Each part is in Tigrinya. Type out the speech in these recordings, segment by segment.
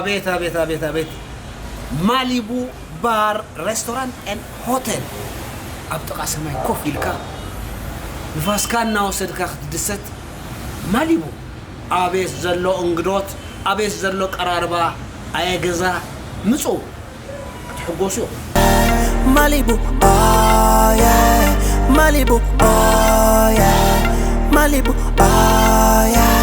ኣቤት ኣቤት ኣቤት ኣቤት ማሊቡ ባር ሬስቶራንት ን ሆቴል ኣብ ጥቓ ሰማይ ኮፍ ኢልካ ንፋስካ እናወሰድካ ክትድሰት ማሊቡ ኣቤት ዘሎ እንግዶት ኣቤት ዘሎ ቀራርባ ኣየ ገዛ ምፁ ክትሕጎሱ ኢኹም። Malibu oh yeah Malibu oh yeah Malibu oh yeah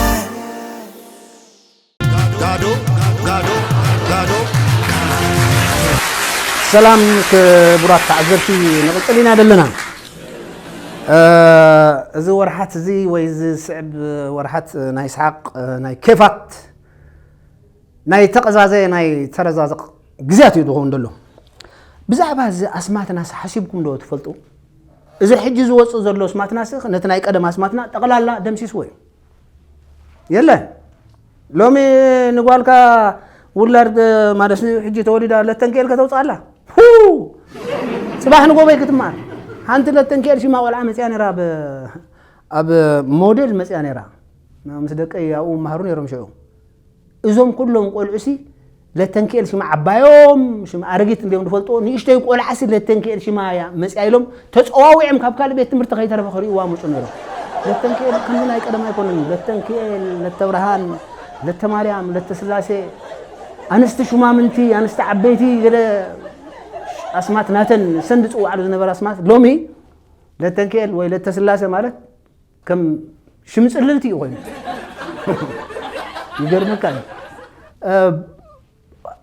ሰላም ክቡራት ተዓዘብቲ ንቕፅል ኢና ዘለና እዚ ወርሓት እዚ ወይ ዝስዕብ ወርሓት ናይ ስሓቅ ናይ ኬፋት ናይ ተቐዛዘ ናይ ተረዛዘቕ ግዝያት እዩ ዝኸውን ዘሎ። ብዛዕባ እዚ ኣስማትናስ ሓሲብኩም ዶ ትፈልጡ? እዚ ሕጂ ዝወጽእ ዘሎ ኣስማትናስ ነቲ ናይ ቀደም ኣስማትና ጠቕላላ ደምሲስዎ እዩ። የለን ሎሚ ንጓልካ ውላድ ማለት ሕጂ ተወሊዳ ለተንክኤል ከተውጽኣላ ጽባሕ ንጎበይ ክትማር ሓንቲ ለተንክኤል ሽማ ቆልዓ መጽያ ነራ ኣብ ሞዴል መጽያ ነራ ምስ ደቀይ ኣብኡ መሃሩ ነሮም ሽዑ እዞም ኩሎም ቆልዑሲ ለተንክኤል ሽማ ዓባዮም ሽማ ኣረጊት እንዲዮም ዝፈልጥዎ ንእሽተይ ቆልዓሲ ለተንክኤል ሽማ እያ መፅያ ኢሎም ተፀዋዊዖም ካብ ካልእ ቤት ትምህርቲ ከይተረፈ ክርእይዋ ምፁ ነይሮም ለተንክኤል ከምዚ ናይ ቀደም ኣይኮነን ለተንክኤል ለተብርሃን ለተማርያም ለተስላሴ ኣንስቲ ሹማምንቲ ኣንስቲ ዓበይቲ ገለ ኣስማት ናተን ሰንድ ዝፅዋዓሉ ዝነበረ ኣስማት ሎሚ ለተንክኤል ወይ ለተስላሴ ማለት ከም ሽም ጽልልቲ እዩ ኮይኑ ይገርመካ እዩ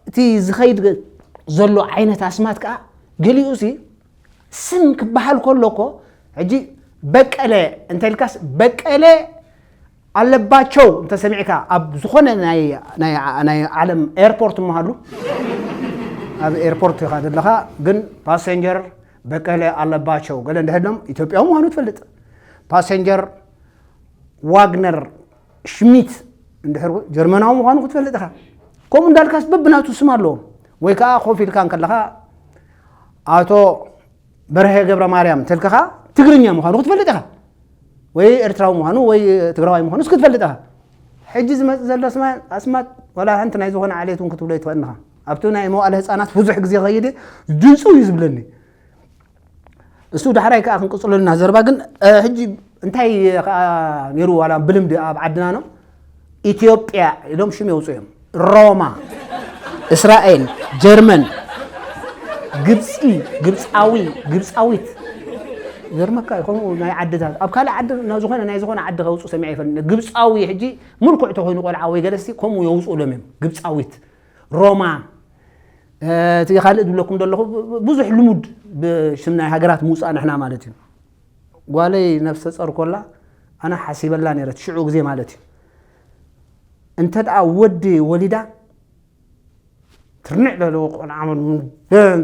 እቲ ዝኸይድ ዘሎ ዓይነት ኣስማት ከዓ ገሊኡ ሲ ስም ክበሃል ከሎ እኮ ሕጂ በቀለ እንተልካስ በቀለ ኣለባቸው እንተሰሚዕካ ኣብ ዝኾነ ናይ ዓለም ኤርፖርት መሃሉ ኣብ ኤርፖርት ኢኻ ዘለኻ ግን ፓሰንጀር በቀለ ኣለባቸው ገለ እንድሕር ኢሎም ኢትዮጵያዊ ምዃኑ ትፈልጥ ፓሰንጀር ዋግነር ሽሚት እንድሕር ጀርመናዊ ምዃኑ ክትፈልጥ ኢኻ ከምኡ እንዳልካስ በብናቱ ስም ኣለዎም ወይ ከዓ ኮፍ ኢልካ ከለኻ ኣቶ በርሀ ገብረ ማርያም ተልክኻ ትግርኛ ምዃኑ ክትፈልጥ ኢኻ ወይ ኤርትራዊ ምዃኑ ወይ ትግራዋይ ምዃኑ ስ ክትፈልጥ ኢኻ ሕጂ ዝመፅእ ዘሎ ኣስማት ወላ ሓንቲ ናይ ዝኾነ ዓሌት እውን ክትብሎ ይትኽእል ኢኻ ኣብቲ ናይ መዋእለ ህፃናት ብዙሕ ግዜ ከይድ ድንፁ እዩ ዝብለኒ እሱ ዳሕራይ ከዓ ክንቅፅሎ ና ዘርባ ግን ሕጂ እንታይ ከዓ ነይሩ ዋላ ብልምዲ ኣብ ዓድና ኖ ኢትዮጵያ ኢሎም ሽም የውፅኡ እዮም ሮማ እስራኤል ጀርመን ግብፂ ግብፃዊ ግብፃዊት ዘርመካ እዩ ከምኡ ናይ ዓድታት ኣብ ካልእ ዓዲ ዝኾነ ናይ ዝኾነ ዓዲ ከውፅኡ ሰሚዐ ይፈልጥ ግብፃዊ ሕጂ ምልኩዕ ተኮይኑ ቆልዓ ወይ ገለስቲ ከምኡ የውፅኡሎም እዮም ግብፃዊት ሮማ እቲ ካልእ ዝብለኩም ዘለኹ ብዙሕ ልሙድ ብሽም ናይ ሃገራት ምውፃእ ንሕና ማለት እዩ ጓለይ ነፍሰ ፀር ኮላ ኣነ ሓሲበላ ነይረ ሽዑ ግዜ ማለት እዩ እንተ ደኣ ወዲ ወሊዳ ትርንዕ ዘለዎ ቆልዓ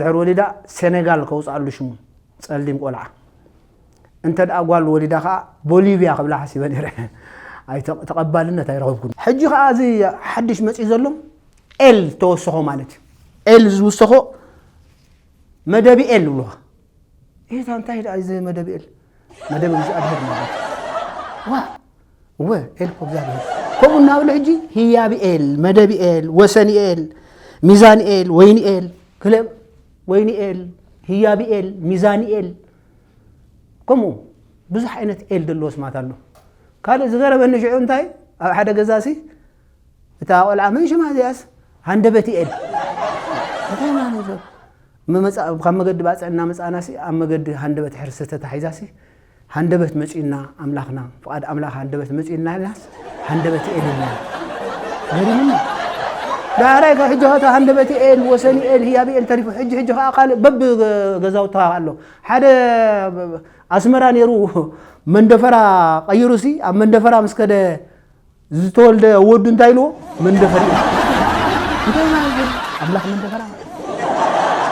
ድሕር ወሊዳ ሴኔጋል ከውፅኣሉ ሽሙ ፀሊም ቆልዓ እንተድኣ ጓል ወሊዳ ከኣ ቦሊቭያ ክብላ ሓሲበ ነይረ ኣይ ተቐባልነት ኣይረኸብኩን። ሕጂ ከኣ እዚ ሓድሽ መጺኡ ዘሎ ኤል ተወሰኾ ማለት እዩ። ኤል ዝውሰኾ መደብ ኤል ይብሉኻ። ኤታ እንታይ ደኣ እዚ መደብ ኤል መደብ እግዚኣብሔር ማለት እዩ። ዋ እወ ኤል እኮ እግዚኣብሔር ከምኡ እናብሉ ሕጂ ህያብ ኤል፣ መደብ ኤል፣ ወሰን ኤል፣ ሚዛን ኤል፣ ወይኒ ኤል ክለ ወይኒ ኤል፣ ህያብ ኤል፣ ሚዛን ኤል ከምኡ ብዙሕ ዓይነት ኤል ዘለዎ ስማት ኣሎ ካልእ ዝገረመኒ ሽዑ እንታይ ኣብ ሓደ ገዛሲ እታ ቆልዓ መን ሽማ እዚኣስ ሃንደበት ኤል እንታይ ማለት ካብ መገዲ ባፅዕ እናመፃእናሲ ኣብ መገዲ ሃንደበት ሕርሲ ተታሒዛሲ ሃንደበት መፅዩና ኣምላኽና ፍቓድ ኣምላኽ ሃንደበት መፅዩና ኢልናስ ሃንደበት ኤል የለን ገሪሙኒ ዳሕራይ ካብ ሕጂ ከታ ሃንደበት ኤል ወሰኒ ኤል ህያብ ኤል ተሪፉ ሕጂ ሕጂ ከዓ ካልእ በቢ ገዛውታ ኣሎ ሓደ ኣስመራ ነይሩ መንደፈራ ቀይሩ ሲ ኣብ መንደፈራ ምስ ከደ ዝተወልደ ወዱ እንታይ ኢልዎ መንደፈር እዩ እንታይ ማለት እዩ? ኣምላኽ መንደፈራ ማለት እዩ።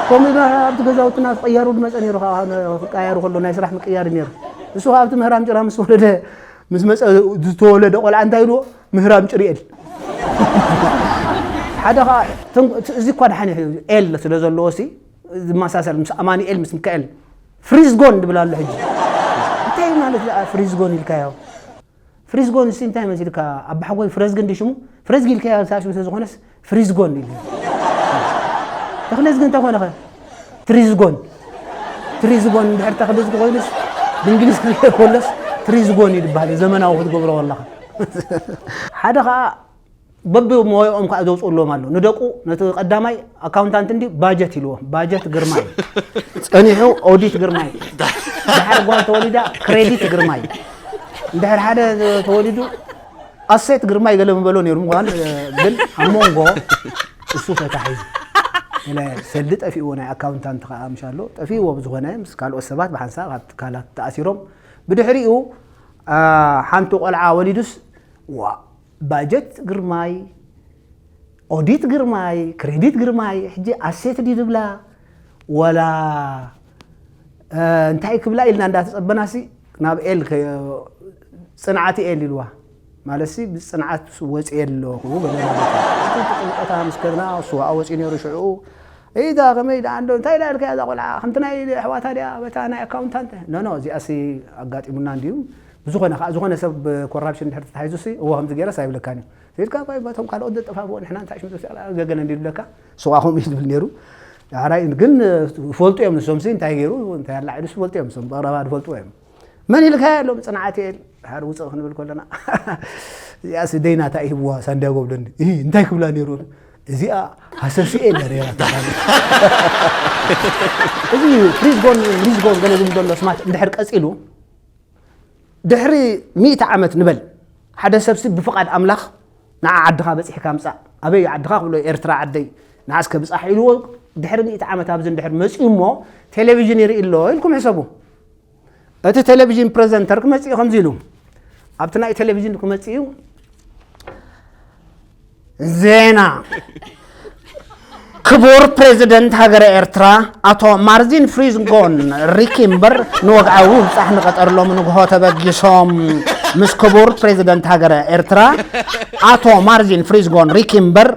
ከምኡ ኢሉ ኣብቲ ገዛውትና ክቅያሩ ዝመፀ ነይሩ ከዓ ክቀያሩ ከሎ ናይ ስራሕ ምቅያር እዩ ነይሩ ንሱ ከዓ ኣብቲ ምህራም ጭራ ምስ ወለደ ምስ መፀ ዝተወለደ ቆልዓ እንታይ ኢልዎ ምህራም ጭርኤል ሓደ ከዓ እዚ እኳ ድሓን ኤል ስለ ዘለዎ ሲ ዝመሳሰል ምስ ኣማኒኤል ምስ ሚካኤል ፍሪዝጎን ድብል ኣሎ ሕጂ እንታይ ማለት ደኣ ፍሪዝጎን ኢልካዮ ፍሪዝጎን ሲ እንታይ መሲልካ ኣባሕጎይ ፍረዝግን ዲ ሽሙ ፍረዝጊ ኢልካዮ ሳሽ ምስ ዝኾነስ ፍሪዝጎን ኢሉ ተክለዝጊ እንተኾነ ኸ ትሪዝጎን ትሪዝጎን እንድሕር ተክለዝጊ ኮይኑስ ብእንግሊዝ ክርኤ ከሎስ ትሪዝጎን እዩ ዝበሃል ዘመናዊ ክትገብሮ ከለኻ ሓደ ከዓ በብሞያኦም ከዓ ዘውፅእሎም ኣሎ ንደቁ ነቲ ቀዳማይ ኣካውንታንት እንዲ ባጀት ኢልዎም ባጀት ግርማይ ፀኒሑ ኦዲት ግርማይ ድሓር ጓል ተወሊዳ ክሬዲት ግርማይ እንድሕር ሓደ ተወሊዱ ኣሴት ግርማይ ገለ ምበሎ ነይሩ ምዃን ግን ኣብ መንጎ እሱ ተታሒዙ ሰልዲ ጠፊእዎ ናይ ኣካውንታንት ከዓ ምሽ ኣሎ ጠፊእዎ ብዝኾነ ምስ ካልኦት ሰባት ብሓንሳብ ካብ ትካላት ተኣሲሮም ብድሕሪኡ ሓንቲ ቆልዓ ወሊዱስ ዋ ባጀት ግርማይ ኦዲት ግርማይ ክሬዲት ግርማይ ሕጂ ኣሴት ድዩ ዝብላ ወላ እንታይ ክብላ ኢልና እንዳተጸበናሲ ናብ ኤል ጽንዓት ኤል ኢልዋ ማለትሲ ብጽንዓት ወጽየ ኣለኹ ጭንቀታ ምስ ከድና እሱ ኣብኣ ወጽዩ ነይሩ ሽዕኡ ኢዳ ከመይ ደኣ እንዶ እንታይ ኢላ ኢልካያ እዛ ቆልዓ ከምቲ ናይ ኣሕዋታ ድያ በታ ናይ ኣካውንታንት ኖኖ እዚኣሲ ኣጋጢሙና እንድዩ ብዝኾነ ከዓ ዝኾነ ሰብ ኮራፕሽን ድሕር ተታሒዙሲ እዎ ከምዚ ገይረስ ኣይብለካን እዩ ሂድካ እኳ በቶም ካልኦት ዘጠፋፍኡ ንሕና እንታይ ሽም ዘውፅእ ኣላ ገገለ እንዲሉ ለካ ስዋ ከምኡ እዩ ዝብል ነይሩ ዳሕራይ ግን ይፈልጡ እዮም ንሶምሲ እንታይ ገይሩ እንታይ ኣላዒሉስ ይፈልጡ እዮም ሶም ብቕረባ ዝፈልጥዎ እዮም መን ኢልካያ ኢሎም ፅንዓት እየ ድሓር ውፅእ ክንብል ከለና እዚኣስ ደይና እንታይ ይህብዋ ሳንዲያጎ ብለኒ እንታይ ክብላ ነይሩ እዚኣ ሃሰሲኤ እያ ነይራ እዚ ፍሪዝጎን ሪዝጎን ገለ ዝብል ዘሎ ስማት እንድሕር ቀፂሉ ድሕሪ ሚእቲ ዓመት ንበል ሓደ ሰብሲ ብፍቃድ ኣምላኽ ንዓ ዓድኻ በጺሕካ ምጻእ ኣበይ እዩ ዓድኻ ክብሎ ኤርትራ ዓደይ ንዓ እስከ ብጻሕ ኢልዎ ድሕሪ ሚእቲ ዓመት ኣብዚ እንድሕር መጺኡ እሞ ቴሌቪዥን ይርኢ ኣሎ ኢልኩም ሕሰቡ እቲ ቴሌቪዥን ፕሬዘንተር ክመጽእ እዩ ከምዚ ኢሉ ኣብቲ ናይ ቴሌቪዥን ክመጽእ እዩ ዜና ክቡር ፕሬዚደንት ሃገረ ኤርትራ ኣቶ ማርዚን ፍሪዝጎን ሪኪ እምበር ንወግዓዊ ምብፃሕ ንቐጠር ሎሚ ንግሆ ተበጊሶም ምስ ክቡር ፕሬዚደንት ሃገረ ኤርትራ ኣቶ ማርዚን ፍሪዝጎን ሪኪ እምበር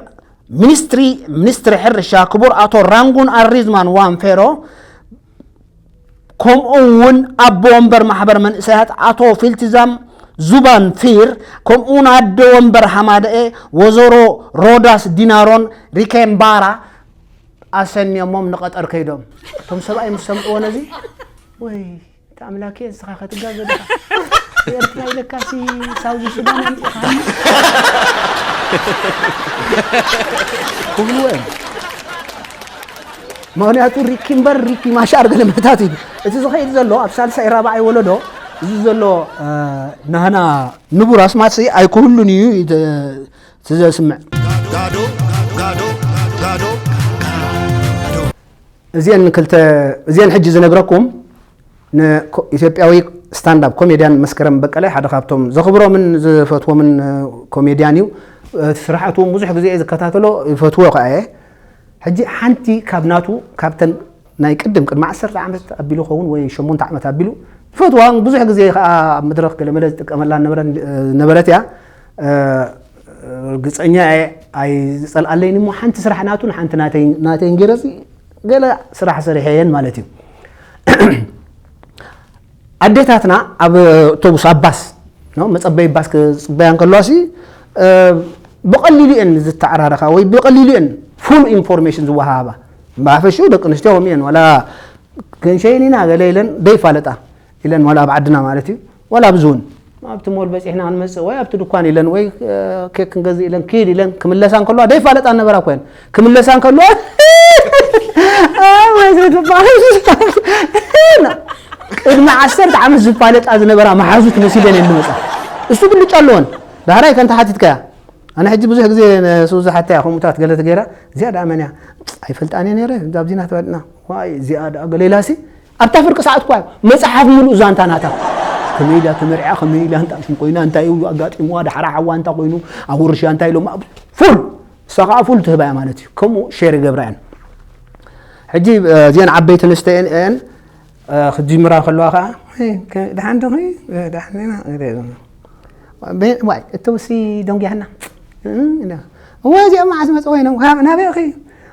ሚኒስትሪ ሚኒስትሪ ሕርሻ ክቡር ኣቶ ራንጉን ኣሪዝማን ዋንፌሮ ከምኡ እውን ኣቦ ወንበር ማሕበር መንእሰያት ኣቶ ፊልቲዛም ዙባን ፊር ከምኡ እውን ኣደ ወንበር ሃማደኤ ወዘሮ ሮዳስ ዲናሮን ሪኬምባራ ኣሰንዮሞም ንቐጠር ከይዶም እቶም ሰብኣይ ምስ ሰምዕዎ ነዚ ወይ እቲ ኣምላክ እየ ንስኻ ከትጋገ ድኻ ኤርትራ ኢለካሲ ሳውዚ ሱዳን ኣምፂኻ ክብልዎ እዮም ምኽንያቱ ሪኪ እምበር ሪኪ ማሻር ገለ ምሕታት እዩ። እቲ ዝኸይድ ዘሎ ኣብ ሳልሳይ ራብዓይ ወለዶ እዚ ዘሎ ናህና ንቡር ኣስማትሲ ኣይክህሉን እዩ እቲ ዘስምዕ። እዚኤን ክልተ እዚኤን ሕጂ ዝነግረኩም ንኢትዮጵያዊ ስታንዳፕ ኮሜድያን መስከረም በቀለ ሓደ ካብቶም ዘኽብሮምን ዝፈትዎምን ኮሜድያን እዩ። እቲ ስራሓቱ እውን ብዙሕ ግዜ እየ ዝከታተሎ ይፈትዎ ከኣ እየ። ሕጂ ሓንቲ ካብ ናቱ ካብተን ናይ ቅድም ቅድሚ ዓሰርተ ዓመት ኣቢሉ ይኸውን ወይ ሸሞንተ ዓመት ኣቢሉ ዝፈትዋን ብዙሕ ግዜ ከዓ ኣብ መድረኽ ገለመለ ዝጥቀመላ ነበረት እያ ርግፀኛ እየ ኣይዝፀልኣለይን እሞ ሓንቲ ስራሕ ናቱን ሓንቲ ናተይን ገይረሲ ገለ ስራሕ ሰሪሐ እየን ማለት እዩ ኣዴታትና ኣብ ኣቶቡስ ኣብ ባስ መጸበይ ባስ ክጽበያ እንከለዋሲ ብቐሊሉ እየን ዝተዓራረኻ ወይ ብቐሊሉ እየን ፉል ኢንፎርሜሽን ዝወሃሃባ ብሓፈሽኡ ደቂ ኣንስትዮ ከምኡ እየን ዋላ ክንሸይን ኢና ገለ ኢለን ዘይፋለጣ ኢለን ዋላ ኣብ ዓድና ማለት እዩ ዋላ ኣብዚ እውን ኣብቲ ሞል በጺሕና ክንመጽእ ወይ ኣብቲ ድኳን ኢለን ወይ ኬክ ክንገዝእ ኢለን ክይድ ኢለን ክምለሳ እንከለዋ ደይፋለጣ ነበራ ኮይን ክምለሳ እንከለዋ ቅድሚ ዓሰርተ ዓመት ዝፋለጣ ዝነበራ መሓዙት መሲለን እየን ዝመጻ እሱ ብልጫ ኣለወን ዳህራይ ከንተ ሓቲትካያ ኣነ ሕጂ ብዙሕ ግዜ ንሱዚ ሓታ እያ ከምኡታት ገለ ትገይራ እዚኣ ደኣ መን እያ ኣይፈልጣን እየ ነይረ ዛብዚና ተባልና ዋይ እዚኣ ደኣ ገሌላሲ ኣብታ ፍርቂ ሰዓት እኳ እዩ መጽሓፍ ምሉእ ዛንታ ናታ ከመይ ኢላ ተመርዕያ ከመይ ኢላ እንታ ሽም ኮይና እንታይ እዩ ኣጋጢምዋ ዳሕራ ሓዋ እንታ ኮይኑ ኣብ ውርሻ እንታይ ኢሎም ፉል ንሳ ከዓ ፉል ትህባያ ማለት እዩ ከምኡ ሼር ይገብራ እየን ሕጂ እዚአን ዓበይቲ ኣንስተ እየን እየን ክትጅምራ ከለዋ ከዓ ድሓን ዶ ዋይ እተውሲ ደንጉያና እወ እዚኦም መዓዝ መፅ ኮይኖም ናበይኺ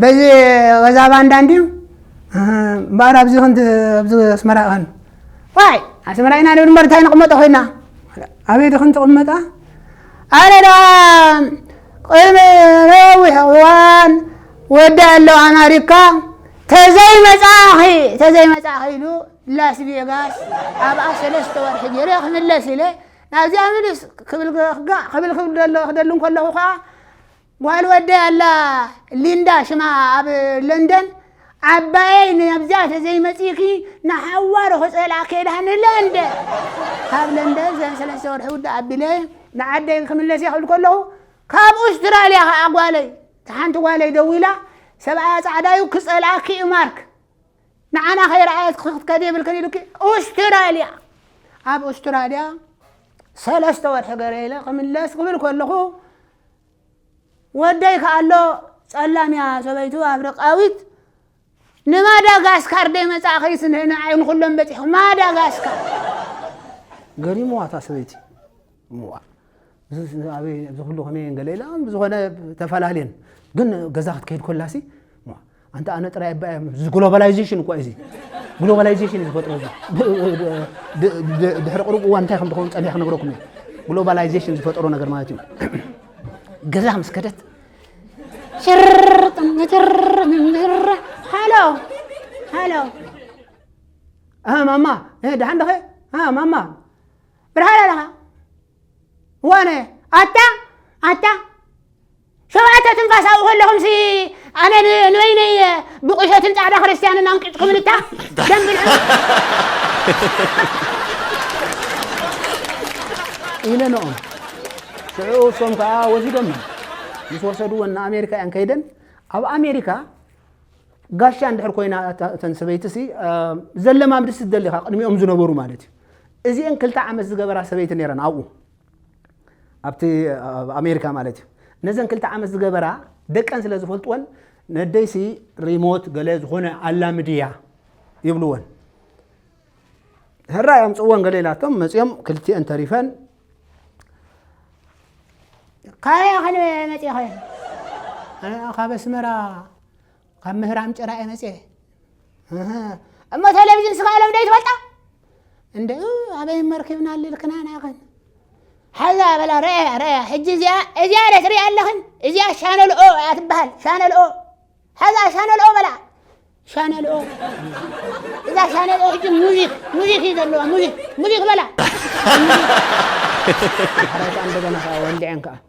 በዚ ወዛ ባንዳ እንድዩ እምበኣር ኣብዚ ክንዲ ኣብዚ ኣስመራ ኸን ዋይ ኣስመራ ኢና ንብል እምበር እንታይ ንቕመጦ ኮይና ኣበይ ድኽን ትቕመጣ ኣነ ደኣ ቅድሚ ነዊሕ እዋን ወዲ ኣለው ኣማሪካ ተዘይመፃኺ ተዘይመፃኺ ኢሉ ላስ ቬጋስ ኣብኣ ሰለስተ ወርሒ ገይረ ክምለስ ኢለ ናብዚኣ ምልስ ክብል ክብል ክደሉ ከለኹ ከዓ ጓል ወደይ ኣላ ሊንዳ ሽማ ኣብ ለንደን ዓባየይ ናብዚኣ ተዘይመፂእኪ ንሓዋሩ ክፀልኣኪ እየ ዳሃኒ ለንደ ካብ ለንደን ዘን ሰለስተ ወርሒ ውዳእ ኣቢለ ንዓደይ ክምለስ እየ ክብል ከለኹ ካብ ኡስትራልያ ከዓ ጓለይ እቲ ሓንቲ ጓለይ ደዊላ ሰብኣያ ፃዕዳ እዩ ክፀልኣኪ እዩ ማርክ ንዓና ከይረኣየት ክትከዲ የብልክን ኢሉኪ ኡስትራልያ ኣብ ኡስትራልያ ሰለስተ ወርሒ ገረ ኢለ ክምለስ ክብል ከለኹ ወደይ ከኣሎ ጸላም እያ ሰበይቱ ኣፍሪቃዊት ንማዳጋስካር ደይ መጻእኺ ስነ ንዓይ ንኹሎም በጺሑ ማዳጋስካር ገሪምዋ እታ ሰበይቲ እምዋ ኣበይ ኣብዚ ኩሉ ከመይ ገለ ኢላ ብዝኾነ ተፈላለየን ግን ገዛ ክትከይድ ኮላሲ ኣንተ ኣነ ጥራይ እባ እየ እዚ ግሎባላይዜሽን እኳ እዩ እዚ ግሎባላይዜሽን እዩ ዝፈጥሮ እዚ ድሕሪ ቅሩብ እዋን እንታይ ከም ዝኸውን ፀኒሐ ክነግረኩም እየ ግሎባላይዜሽን ዝፈጠሮ ነገር ማለት እዩ ገዛ ምስ ከደት ሃሎ ሃሎ ማማ ድሓን ደኸ ማማ ብርሃን ኣለኻ ዋነ ኣታ ኣታ ሸውዓተ ትንፋስ ኣብኡ ከለኹምሲ ኣነ ንበይነይ ብቑሸትን ጻዕዳ ክርስትያንን ኣንቂጽኩምን እታ ደም ብልዑ ኢለ ንኦም ሽዑ እሶም ከዓ ወሲዶመን ምስ ወሰድወን ንኣሜሪካ እየን ከይደን ኣብ ኣሜሪካ ጋሻ እንድሕር ኮይና እተን ሰበይትሲ ዘለማምድሲ ደሊኻ ቅድሚኦም ዝነበሩ ማለት እዩ እዚአን ክልተ ዓመት ዝገበራ ሰበይቲ ነይረን ኣብኡ ኣብቲ ኣብ ኣሜሪካ ማለት እዩ ነዘን ክልተ ዓመት ዝገበራ ደቀን ስለ ዝፈልጥወን ነደይሲ ሪሞት ገለ ዝኾነ ኣላምድያ ይብልወን ህራይ ኣምፅእወን ገለ ኢላቶም መፅኦም ክልቲኤን ተሪፈን ካበይ ከነ መፅኸ ካበ ኣስመራ ካብ ምህራም ጭራ እየ መፅየ እህ፣ እሞ ቴሌቪዥን ስጋ ሎም ዶ ይትበልጣ እንደ እ፣ ኣበይ መርኪብና ልልክና ናኸን ሓዛ በላ ረያ ረያ ሕጂ እዚኣ እዚኣ ደ ትሪኣ ኣለኽን እዚኣ ሻነል ኦ እያ ትበሃል ሻነል ኦ ሓዛ ሻነል ኦ በላ ሻነል ኦ እዛ ሻነል ኦ ሕጂ ሙዚክ ሙዚክ እዩ ዘለዋ ሙዚክ ሙዚክ በላ ሓረታ እንደገና ከዓ ወልዐን ከዓ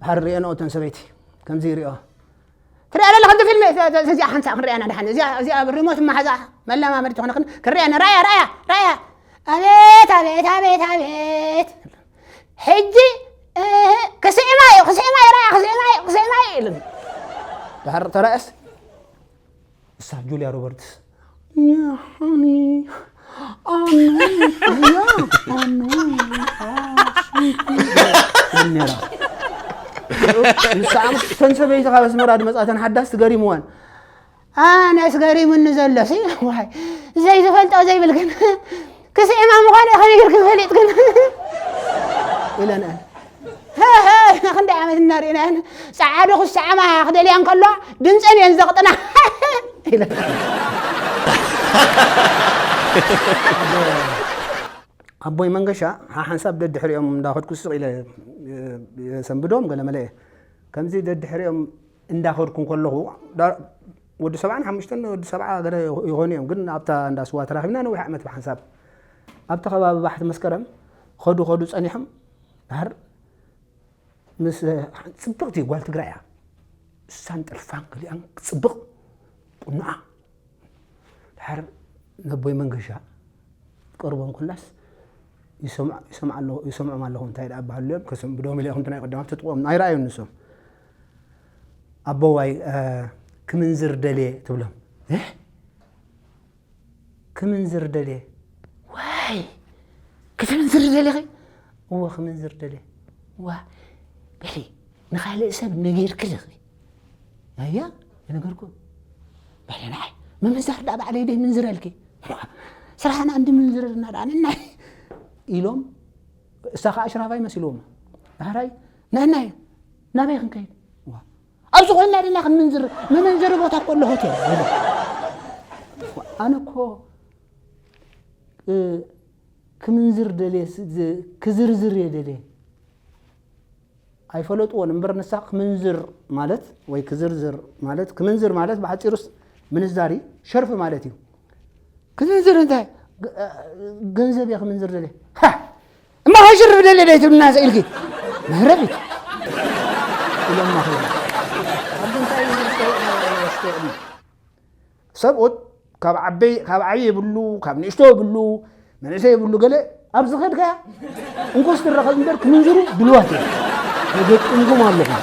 ድሓር ሪኤንኦ እተን ሰበይቲ ከምዚ ይሪኦ ትሪኣ ዘለኺ እቲ ፊልሚ እዚኣ ሓንቲ ሳዕ ክንሪኣና ድሓን እዚኣ ሪሞት መሓዛ መለማመዲ ትኾነ ክንሪኣና ራያ ራያ ራያ ኣቤት ኣቤት ኣቤት ኣቤት ሕጂ ክስዕማ እዩ ክስዕማ እዩ ራያ ክስዕማ እዩ ክስዕማ እዩ ኢሉ ድሓር ተራእስ ንሳ ጁልያ ሮበርትስ ንስኣ እተን ሰበይቲ ካብ ኣስመራ ድመፃተን ሓዳስ ትገሪምወን ኣነስ ገሪሙኒ ዘሎ ሲ ዋይ ዘይዝፈልጦ ዘይብል ግን ክስዕማ ምዃነይ ከመይ ጌርክን ፈሊጥክን ኢለንኣን ህህህ ክንደይ ዓመት እናርእናየን ጸዓዱ ክሰዓማ ክደልያ እንከለዋ ድምፀን እየን ዘቕጥና ኢለን ኣቦይ መንገሻ ሓሓንሳብ ደድሕሪኦም እንዳኸድኩ ስቕ ኢለ የሰንብዶም ገለ መለ እየ ከምዚ ደድሕሪኦም እንዳ ከድኩ ከለኹ ወዲ ሰብዓን ሓሙሽተን ወዲ ሰብዓ ገለ ይኾኑ እዮም ግን ኣብታ እንዳ ስዋ ተራኺብና ነዊሕ ዓመት ብሓንሳብ ኣብቲ ከባቢ ባሕቲ መስከረም ከዱ ከዱ ጸኒሖም ድሓር ምስ ጽብቕቲ ጓል ትግራይ እያ እሳን ጥልፋን ገሊኣን ጽብቕ ቁኑዓ ድሓር ነቦይ መንገሻ ቀርቦም ኩላስ ይሰምዖም ኣለኹ እንታይ ደኣ በሃሉ እዮም ከስም ብዶሚ ኢለ ኮንትና ይቐደማት ትጥቆም ኣይረኣዩን ንሶም ኣቦዋይ ክምንዝር ደልየ ትብሎም እህ ክምንዝር ደልየ ዋይ ክትምንዝር ደልኺ እወ ክምንዝር ደልየ ዋ በሊ ንካልእ ሰብ ነጊርኪ ድኺ ኣያ የነገርኩ በለ ንዓይ ምምንዛር ዳ ባዕለይ ደይ ምንዝረልኪ ስራሕና እንዲ ምንዝርልና ዳኣንና ኢሎም እሳ ከዓ ሽራፋይ መሲልዎም ዳሕራይ ንሕና እዩ ናበይ ክንከይድ ዋ፣ ኣብዚ ኮይና ድና ክንምንዝር መመንዘሪ ቦታ እኮ ኣሎ ሆቴል ይብል። ዋ፣ ኣነ እኮ እ፣ ክምንዝር ደልየ ስ- ዝ- ክዝርዝር እየ ደልየ ኣይፈለጥዎን እምበር ንሳ ክምንዝር ማለት ወይ ክዝርዝር ማለት ክምንዝር ማለት ብሓፂሩስ ምንዛሪ ሸርፊ ማለት እዩ ክዝንዝር እንታይ ገ- ገንዘብ እየ ክምንዝር ደልየ ሃ! እማ ከሽርፍ ደልየ ደይ ትብልና ኢልኪ መህረቢት ኢሎማ ከ ኣብ እንታይ እዩ ዝስተውዕል ሰብኡት ካብ ዓበይ ካብ ዓብይ ይብሉ ካብ ንእሽቶ ይብሉ መንእሰይ ይብሉ ገለ ኣብ ዝኸድካ እንኮስ ትረኸብ እምበር ክምንዝሩ ድልዋት እዮም የገጥምኩም ኣለኹም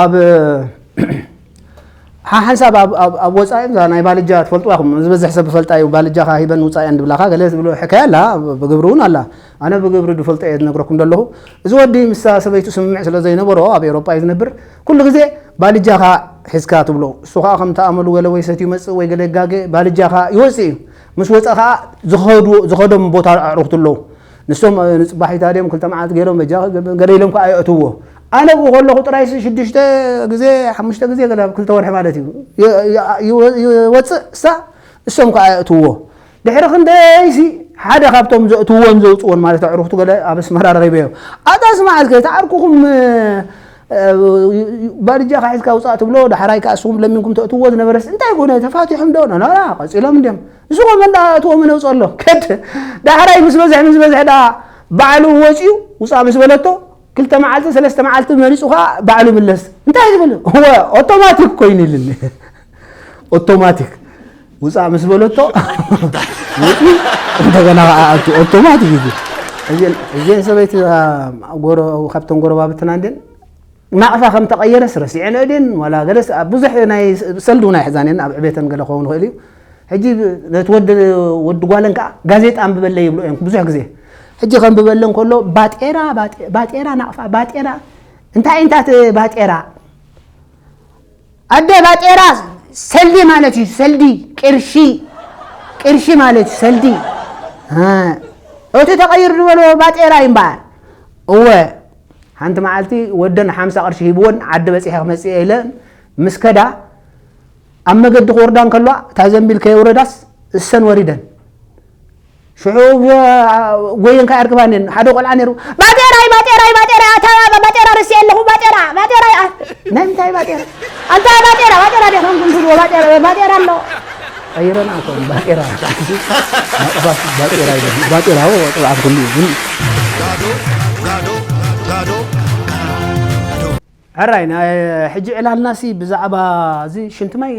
ኣብ ሓሓንሳብ ኣብ ወፃኢ እዛ ናይ ባልጃ ትፈልጥዋ ኢኹም ዝበዝሕ ሰብ ዝፈልጣ እዩ ባልጃኻ ሂበን ውፃእ እየን ድብላኻ ገለ ዝብሎ ሕካያ ኣላ ብግብሪ እውን ኣላ ኣነ ብግብሪ ዝፈልጦ እየ ዝነግረኩም ዘለኹ እዚ ወዲ ምስ ሰበይቱ ስምምዕ ስለ ዘይነበሮ ኣብ ኤሮፓ እዩ ዝነብር ኩሉ ግዜ ባልጃኻ ሒዝካ ትብሎ እሱ ከዓ ከም ተኣመሉ ገለ ወይ ሰት ይመፅእ ወይ ገለ ይጋገ ባልጃኻ ይወፅእ እዩ ምስ ወፀ ከዓ ዝኸደም ቦታ ኣዕሩኽቲ ኣለዉ ንሶም ኣብ ንጽባሒታ ድዮም ክልተ መዓልቲ ገይሮም በጃ ገለ ኢሎም ከኣ የእትዎ ኣነ ብኡ ከለኹ ጥራይሲ ሽዱሽተ ግዜ ሓሙሽተ ግዜ ገለ ኣብ ክልተ ወርሒ ማለት እዩ ይወጽእ እሳ እሶም ከኣ የእትዎ ድሕሪ ክንደይሲ ሓደ ካብቶም ዘእትዎን ዘውጽዎን ማለት ኣዕሩኽቱ ገለ ኣብ ኣስመራ ረኺበዮ ኣታስ መዓዝ ከይታ ዓርኩኹም ባድጃ ካሒዝካ ውጻእ ትብሎ ዳሕራይ ከኣ ንስኹም ለሚንኩም ተእትዎ ዝነበረስ እንታይ ኮነ ተፋቲሖም ዶ ናና ቀጺሎም እንድዮም እዚ ኮመን ደኣ እትዎም ነውፀ ኣሎ ከድ ዳሕራይ ምስ በዝሐ ምስ በዝሐ ደኣ ባዕሉ ወፅዩ ውፃእ ምስ በለቶ ክልተ መዓልቲ ሰለስተ መዓልቲ መሪፁ ከዓ ባዕሉ ምለስ እንታይ ዝብል ወ ኦቶማቲክ ኮይኑ ይልኒ ኦቶማቲክ ውፃእ ምስ በለቶ ውፅዩ እንደገና ከዓ ኣቱ ኦቶማቲክ እዩ እዚን ሰበይቲ ጎሮ ካብተን ጎረባብትና እንድን ናቕፋ ከም ተቐየረስ ረሲዐንኦ ድየን ዋላ ገለስ ኣብ ብዙሕ ናይ ሰልዲ እውን ኣይሕዛን እየን ኣብ ዕቤተን ገለ ክኸውን ይኽእል እዩ ሕጂ ነቲ ወዲ ወዲ ጓለን ከዓ ጋዜጣ ኣንብበለይ ይብልኦ እየን ብዙሕ ግዜ ሕጂ ከንብበለን ከሎ ባጤራ ባጤራ ናቕፋ ባጤራ እንታይ እንታይ ባጤራ ኣደ ባጤራ ሰልዲ ማለት እዩ ሰልዲ ቅርሺ ቅርሺ ማለት እዩ ሰልዲ እቲ ተቐይር ዝበልዎ ባጤራ እዩ እምበኣር እወ ሓንቲ መዓልቲ ወደን ሓምሳ ቅርሺ ሂብወን ዓዲ በፂሐ ክመፅእ ኢለ ምስ ከዳ ኣብ መገዲ ክወርዳ እንከለዋ እታ ዘንቢል ከየውረዳስ እሰን ወሪደን ሽዑ ጎየንካ ኣርክባኒ ሓደ ቆልዓ ነይሩ ባጤራይ ባጤራይ ባጤራይ ኣታ ባጤራ ርስየ ኣለኹ ባጤራ ባጤራ ናይ ምንታይ ባጤራ ኣታ ባጤራ ባጤራ ዲኻ ንኩንትልዎ ባጤራ ባጤራ ኣሎ ቀይረን ኣቶም ባጤራ ባጤራ ባጤራ ጥብዓት ኩሉ ግን ጋዶ ጋዶ ጋዶ ሕራይ ናይ ሕጂ ዕላልናሲ ብዛዕባ እዚ ሽንቲ ማይ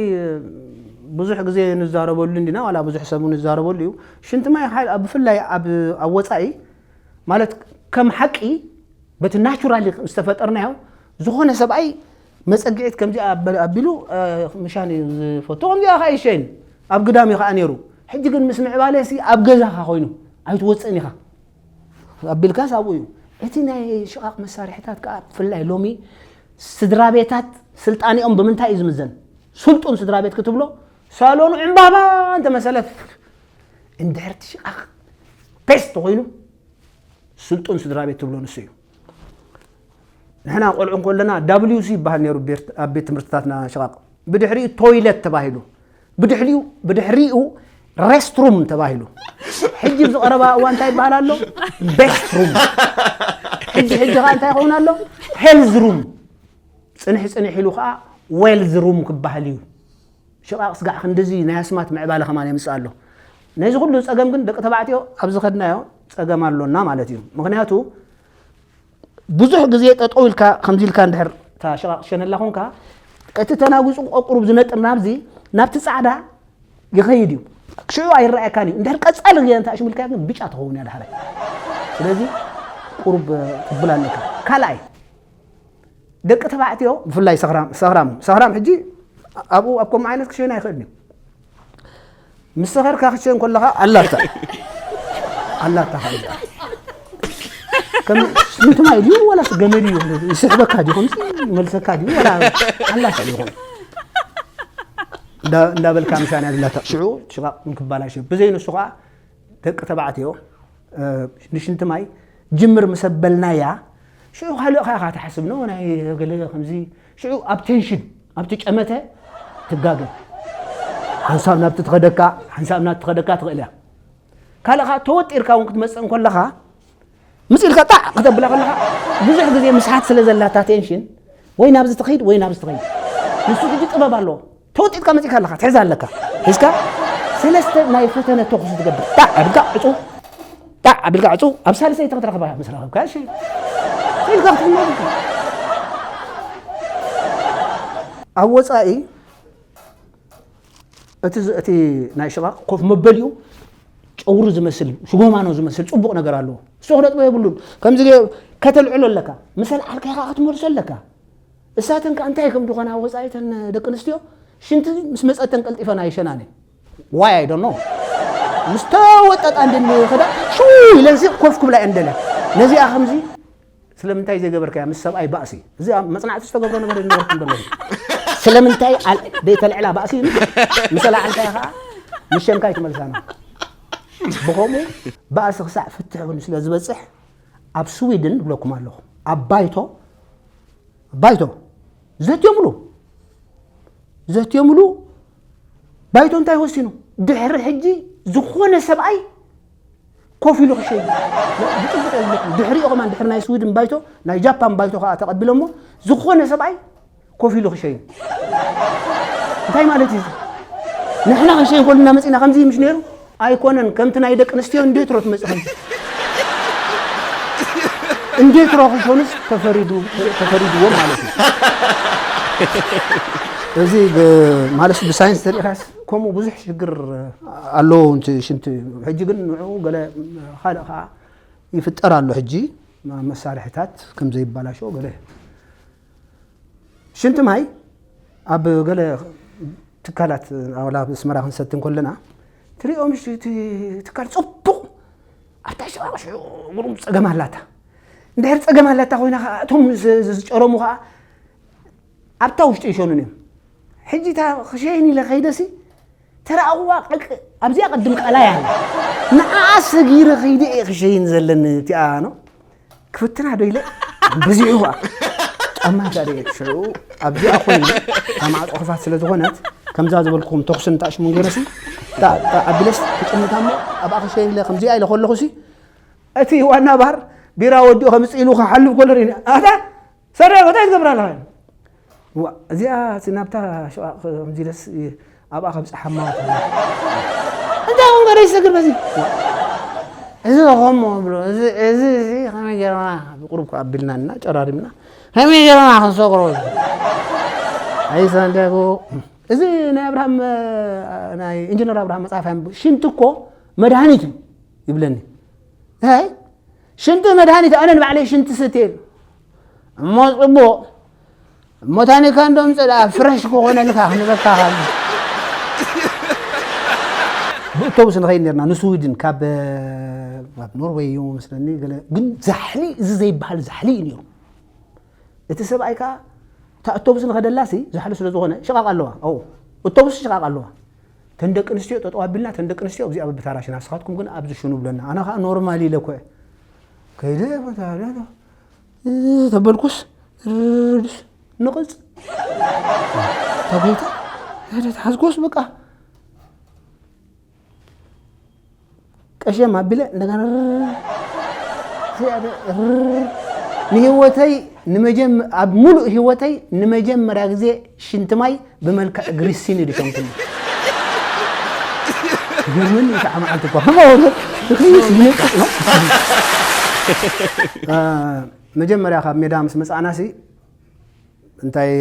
ብዙሕ ግዜ ንዛረበሉ እንዲና ዋላ ብዙሕ ሰብ እውን ይዛረበሉ እዩ ሽንቲ ማይ ሓ- ኣብ- ብፍላይ ኣብ ኣብ ወፃኢ ማለት ከም ሓቂ በቲ ናቹራሊ ዝተፈጠርናዮ ዝኾነ ሰብኣይ መፀግዒት ከምዚኣ ኣበ- ኣቢሉ አ፣ ምሻን እዩ ዝፈቱ ከምዚኣ ከዓ ይሸይን ኣብ ግዳም እዩ ከዓ ነይሩ ሕጂ ግን ምስ ምዕባለሲ ኣብ ገዛኻ ኮይኑ ኣይትወፅእን ኢኻ ኣቢልካስ ኣብኡ እዩ። እቲ ናይ ሽቓቕ መሳርሒታት ከኣ ብፍላይ ሎሚ ስድራቤታት ስልጣኔኦም ብምንታይ እዩ ዝምዘን? ስልጡን ስድራቤት ክትብሎ ሳሎኑ ዕምባባ እንተመሰለ እንድሕርቲ ሽቓቕ ፔስ ተኾይኑ ስልጡን ስድራቤት ትብሎ ንሱ እዩ። ንሕና ቆልዑ ከለና ዳብልዩሲ ይበሃል ነይሩ ኣብ ቤት ትምህርትታትና ሽቓቕ ብድሕሪኡ ቶይለት ተባሂሉ ብድሕሪኡ ብድሕሪኡ ሬስትሩም ተባሂሉ ሕጂ ዝቐረባ እዋ እንታይ ይበሃል ኣሎ ቤስትሩም ሕጂ ሕጂ ከዓ እንታይ ይኸውን ኣሎ ሄልዝ ሩም ፅንሕ ፅንሕ ኢሉ ከዓ ዌልዝ ሩም ክበሃል እዩ ሽቓቕ ስጋዕ ክንድዚ ናይ ኣስማት ምዕባለ ከማን የምጽእ ኣሎ። ነዚ ኩሉ ጸገም ግን ደቂ ተባዕትዮ ኣብ ዝኸድናዮ ጸገም ኣሎና ማለት እዩ። ምኽንያቱ ብዙሕ ግዜ ጠጠው ኢልካ ከምዚ ኢልካ እንድሕር እታ ሽቓቕ ሸነላ ኮንካ እቲ ተናጒጹ ቆቁሩብ ዝነጥር ናብዚ ናብቲ ጻዕዳ ይኸይድ እዩ። ሽዑ ኣይረኣየካን እዩ። እንድሕር ቀጻሊ ግዜ እንተ ኣሽምልካያ ግን ብጫ ትኸውን እያ ዳሕራይ። ስለዚ ቁሩብ ትብል ኣለካ። ካልኣይ ደቂ ተባዕትዮ ብፍላይ ሰኽራም ሰኽራም ሕጂ ኣብኡ ኣብ ከምኡ ዓይነት ክሸን ኣይኽእልን እዩ ምስ ሰኸርካ ክሸን ከለኻ ኣላታ ኣላታ ከምንትማ ድዩ ወላስ ገመድ እዩ ይስሕበካ ድዩ ከምዚ መልሰካ ድዩ ወላ ኣላታ እዩ ኾኑ እንዳበልካ ምሻን እያ ዝላታ ሽዑ ሽቓቕ እንክባላሽ ብዘይንሱ ከዓ ደቂ ተባዕትዮ ንሽንቲ ማይ ጅምር ምሰበልናያ ሽዑ ካልእኻ ኢኻ ትሓስብ ን ናይ ገለ ከምዚ ሽዑ ኣብ ቴንሽን ኣብቲ ጨመተ ትጋገ ሓንሳብ ናብቲ ትኸደካ ሓንሳብ ናብቲ ትኸደካ ትኽእል እያ ካልእኻ ተወጢርካ እውን ክትመፅእ እንከለኻ ምስ ኢልካ ጣዕ ከተብላ ከለኻ ብዙሕ ግዜ ምስሓት ስለ ዘላታ ቴንሽን ወይ ናብዚ ትኸይድ ወይ ናብዚ ትኸይድ ንሱ ግዲ ጥበብ ኣለዎ ተወጢጥካ መጺእካ ኣለካ ትሕዛ ኣለካ ሒዝካ ሰለስተ ናይ ፈተነ ተኹሲ ትገብር ጣዕ ኣብልካ ዕጹ ጣዕ ኣብልካ ዕጹ ኣብ ሳልሰይቲ ክትረኽባ ምስ ረኸብካ እሺ ኢልካ ክትምናልካ ኣብ ወፃኢ እቲ እቲ ናይ ሽቓቕ ኮፍ መበሊኡ ጨውሪ ዝመስል ሽጎማኖ ዝመስል ፅቡቕ ነገር ኣለዎ እሱ ክነጥቦ የብሉን ከምዚ ከተልዕሎ ኣለካ ምስ ኣልዓልካ ኢኻ ክትመልሶ ኣለካ እሳተን ከኣ እንታይ ከም ዝኾና ኣብ ወጻኢ እተን ደቂ ኣንስትዮ ሽንቲ ምስ መጸተን ቀልጢፈን ኣይሸናን እየን ዋይ ኣይ ዶንት ኖ ምስ ተወጠጣ እንድን ይኸዳ ሽው ኢለንሲ ኮፍ ክብላ እየን ደልያ ነዚኣ ከምዚ ስለምንታይ ዘይገበርካያ ምስ ሰብኣይ ባእሲ እዚ ኣብ መጽናዕቲ ዝተገብሮ ነገር እዩ ነበርኩም ደሎ ስለምንታይ ኣል- ደይተልዕላ ባእሲ ኢሉ ምስ ኣልዓልካያ ከዓ ምስ ሸንካይ ትመልሳና ብኸምኡ ባእሲ ክሳዕ ፍትሕ እውን ስለ ዝበፅሕ ኣብ ስዊድን እብለኩም ኣለኹ ኣብ ባይቶ ባይቶ ዘትዮምሉ ዘትዮምሉ ባይቶ እንታይ ወሲኑ ድሕሪ ሕጂ ዝኾነ ሰብኣይ ኮፍ ኢሉ ክሸይ ድሕሪኦ ከማ ድሕሪ ናይ ስዊድን ባይቶ ናይ ጃፓን ባይቶ ከዓ ተቐቢሎሞ ዝኾነ ሰብኣይ ኮፍ ኢሉ ክሸይን እንታይ ማለት እዩ ንሕና ክንሸይን ኮልና መፂና ከምዚ ምሽ ነይሩ ኣይኮነን ከምቲ ናይ ደቂ ኣንስትዮ እንዴት ሮ ትመፅእ ከምዚ እንዴት ሮ ክሾንስ ተፈሪዱ ተፈሪድዎ ማለት እዩ እዚ ማለት ብሳይንስ ተሪእካስ ከምኡ ብዙሕ ሽግር ኣለዎ ንቲ ሽንቲ ሕጂ ግን ንዕኡ ገለ ካልእ ከዓ ይፍጠር ኣሎ ሕጂ መሳርሕታት ከም ዘይበላሸው ገለ ሽንቲ ማይ ኣብ ገለ ትካላት ዋላ ኣብ ኣስመራ ክንሰቲ እንከለና ትሪኦ ምሽ ትካል ፅቡቕ ኣብታ ሸዋቕ ሽዑ ጉሩም ፀገም ኣላታ እንድሕር ፀገም ኣላታ ኮይና ከዓ እቶም ዝጨረሙ ከዓ ኣብታ ውሽጢ ይሸኑን እዮም ሕጂ እታ ክሸይን ኢለ ከይደሲ ተራእኹዋ ቀቅ ኣብዚኣ ቅድም ቀላይ ኣላ ንዓኣ ሰጊረ ከይደ እየ ክሸይን ዘለኒ እቲኣ ኖ ክፍትና ዶ ኢለ በዚሑዋ ጫማ ጋር እየ ሽዑ ኣብዚኣ ኮይኑ ካብ ማዕፆ ክፋት ስለ ዝኾነት ከምዛ ዝበልኩኹም ተኹሲ ንታሽሙን ገይረሲ ኣቢለስ ክጥምታ እሞ ኣብኣ ክሸይን ኢለ ከምዚኣ ኢለ ከለኹሲ እቲ ዋና ባር ቢራ ወዲኡ ከምፅ ኢሉ ክሓልፍ ከሎ ርኢኒ ኣታ ሰሪዕኺ እንታይ ትገብሪ ኣለኻ ኢሉ እዋእ እዚኣ እቲ ናብታ ሽቓቕ ከምዚለስ ኣብኣ ከብፅሓማ እንታይ ኹም ገረ ይሰግር በዚ እዚ ኸሞ ብሎ እዚ እዚ እዚ ከመይ ጌርና ብቁሩብ ከዓ ኣቢልና እና ጨራሪምና ከመይ ጌርና ክንሰግሮ ኣይ ሳንቲያጎ እዚ ናይ ኣብርሃም እ፣ ናይ ኢንጂነር ኣብርሃም መፅሓፍ ኣንብብ ሽንቲ እኮ መድሃኒት እዩ ይብለኒ ሽንቲ መድሃኒት ኣነ ንባዕለይ ሽንቲ ስትየ እሞ ጽቡቕ እሞ ታኒካ እንዶም ጽድኣ ፍረሽ ክኾነልካ ክንበካ ካብ ብእቶብስ ንኸይድ ነርና ንስዊድን ካብ ኣብ ኖርወይ እዩ መስለኒ ግን ዛሕሊ እዚ ዘይበሃል ዛሕሊ እዩ ነይሩ እቲ ሰብኣይ ከዓ እታ እቶብስ ንኸደላሲ ዛሕሊ ስለ ዝኾነ ሽቓቕ ኣለዋ እቶብስ ሽቓቕ ኣለዋ እተን ደቂ ኣንስትዮ ጠጠው ኣቢልና እተን ደቂ ኣንስትዮ ኣብዚኣ ብብታራ ሽና ንስኻትኩም ግን ኣብዚ ሽኑ ብለና ኣነ ከዓ ኖርማል ኢለ ኮ ከይደ ተበልኩስ ንቕፅ ተጎይታ ሓዝኮስ በቃ ቀሸም ኣቢለ እንደገና ንህይወተይ ኣብ ሙሉእ ህይወተይ ንመጀመርያ ግዜ ሽንቲ ማይ ብመልክዕ ግሪሲን እዩ ድሸንኩኒ ግርምን ከዓ መዓልቲ እኳ መጀመርያ ካብ ሜዳ ምስ መፃእናሲ እንታይ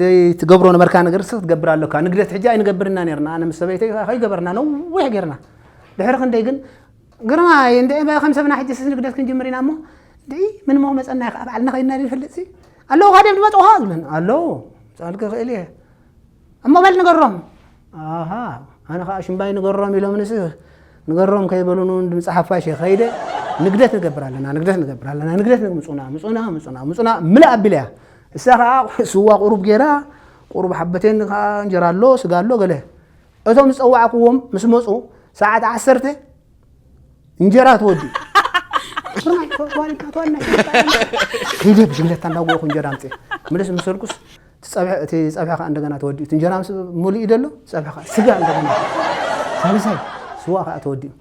ደይ ትገብሮ ነበርካ ነገር ስ ክትገብር ኣለካ ንግደት ሕጂ ኣይንገብርና ነርና ኣነ ምስ ሰበይተይ ከይገበርና ነዊሕ ጌርና ድሕሪ ክንደይ ግን ግርማ እንደ ከም ሰብና ሕጂ ስስ ንግደት ክንጅምር ኢና እሞ ድይ ምን ሞ መፀና ይኸ በዓልና ከይድና ንፈልጥ ሲ ኣለዉ ካደም ድመፅኻ ዝብለን ኣለዉ ፃልክ ክእል እየ እሞ በል ንገሮም ኣሃ ኣነ ከኣ ሽምባይ ንገሮም ኢሎምንስ ንገሮም ከይበሉኑ ድምጺ ሓፋሽ ከይደ ንግደት ንገብር ኣለና ንግደት ንገብር ኣለና ንግደት ምጹና ምጹና ምጹና ምጹና ምልእ ኣቢለያ እሳ ከኣ ስዋ ቁሩብ ጌራ ቁሩብ ሓበቴኒ ከኣ እንጀራ ኣሎ ስጋ ኣሎ ገለ እቶም ዝጸዋዕክዎም ምስ መጹ ሰዓት ዓሰርተ እንጀራ ትወዲ ስርናይ ተዋሪካ ተዋናይ ከይደ ብሽግለታ እንዳጎኹ እንጀራ ኣምፅእ ምልስ ምስ በልኩስ እቲ ፀብሒ እቲ ፀብሒ ከዓ እንደገና ተወዲኡ እቲ እንጀራ ምስ ሙሉእ እዩ ደሎ ፀብሒ ከዓ ስጋ እንደገና ሳልሳይ ስዋ ከዓ ተወዲኡ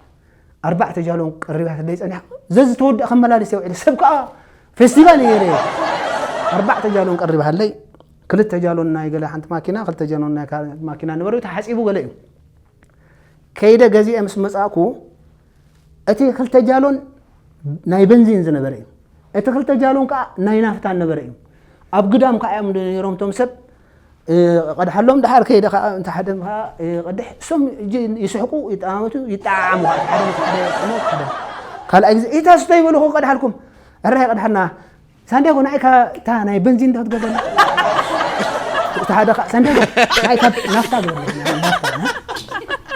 ኣርባዕተ ጃሎን ቀሪባ ተደይ ፀኒሓ ዘዚ ተወዲኣ ከመላለስ እየ ውዒለ ሰብ ከዓ ፌስቲቫል እየ ነይረ ኣርባዕተ ጃሎን ቀሪባ ሃለይ ክልተ ጃሎን ናይ ገለ ሓንቲ ማኪና ክልተ ጃሎን ናይ ካልእ ማኪና ነበሩ ተሓፂቡ ገለ እዩ ከይደ ገዚኤ ምስ መጻእኩ እቲ ክልተ ጃሎን ናይ በንዚን ዝነበረ እዩ እቲ ክልተ ጃሎን ከዓ ናይ ናፍታ ነበረ እዩ ኣብ ግዳም ከዓ እዮም ነይሮም እቶም ሰብ ቀድሓሎም ድሓር ከይደ ከዓ እንተ ሓደ ከዓ ቀድሕ እሶም ይስሕቁ ይጠማመቱ ይጠዓዓሙ ከዓ ሓደ ሓደ ሓደ ካልኣይ ግዜ ኢታ ስቶ ይበልኹ ቀድሓልኩም ዕራይ ቀድሓልና ሳንዲያጎ ንዓይ ካብ እታ ናይ በንዚን ዶ ክትገብረኒ እቲ ሓደ ከዓ ሳንዲያጎ ንዓይ ካብ ናፍታ ግበረኒ ናፍታ እ?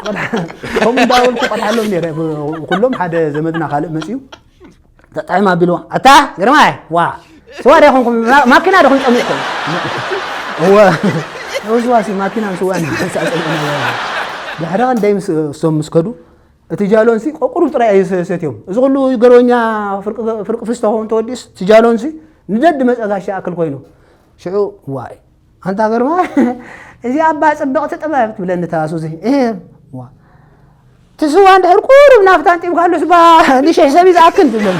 ቆልዓ- ከምኡ እንዳበልኩ ቆልዓሎም ነይረ ብ- ኩሎም ሓደ ዘመድና ካልእ መፅዩ ተጣዒም ኣቢልዎ ኣታ ግርማይ ዋ ስዋ ዶ ይኹንኩም ማ- ማኪና ዶ ክንፀሚቕኩም እወ እወ ስዋ ሲ ማኪናን ስዋን ድሕሪ ቀን ደይ ምስ እሶም ምስ ከዱ እቲ ጃሎንሲ ቆቁሩብ ጥራይ ኣዩ ሰትዮም እዚ ኩሉ ገሮኛ ፍርቂ ፍስታ ኮም ተወዲስ እቲ ጃሎንሲ ንደዲ መጸ ጋሻ ኣክል ኮይኑ ሽዑ ዋይ ኣንታ ገርማ እዚ ኣባ ጽብቕቲ ጥበብ ትብለኒ ተኣሱዚ ዋ እቲ ስዋ እንድሕር ቁሩብ ናፍታ ንጢምካሉስ ባ ንሽሕ ሰብ ዝኣክል ትብለኒ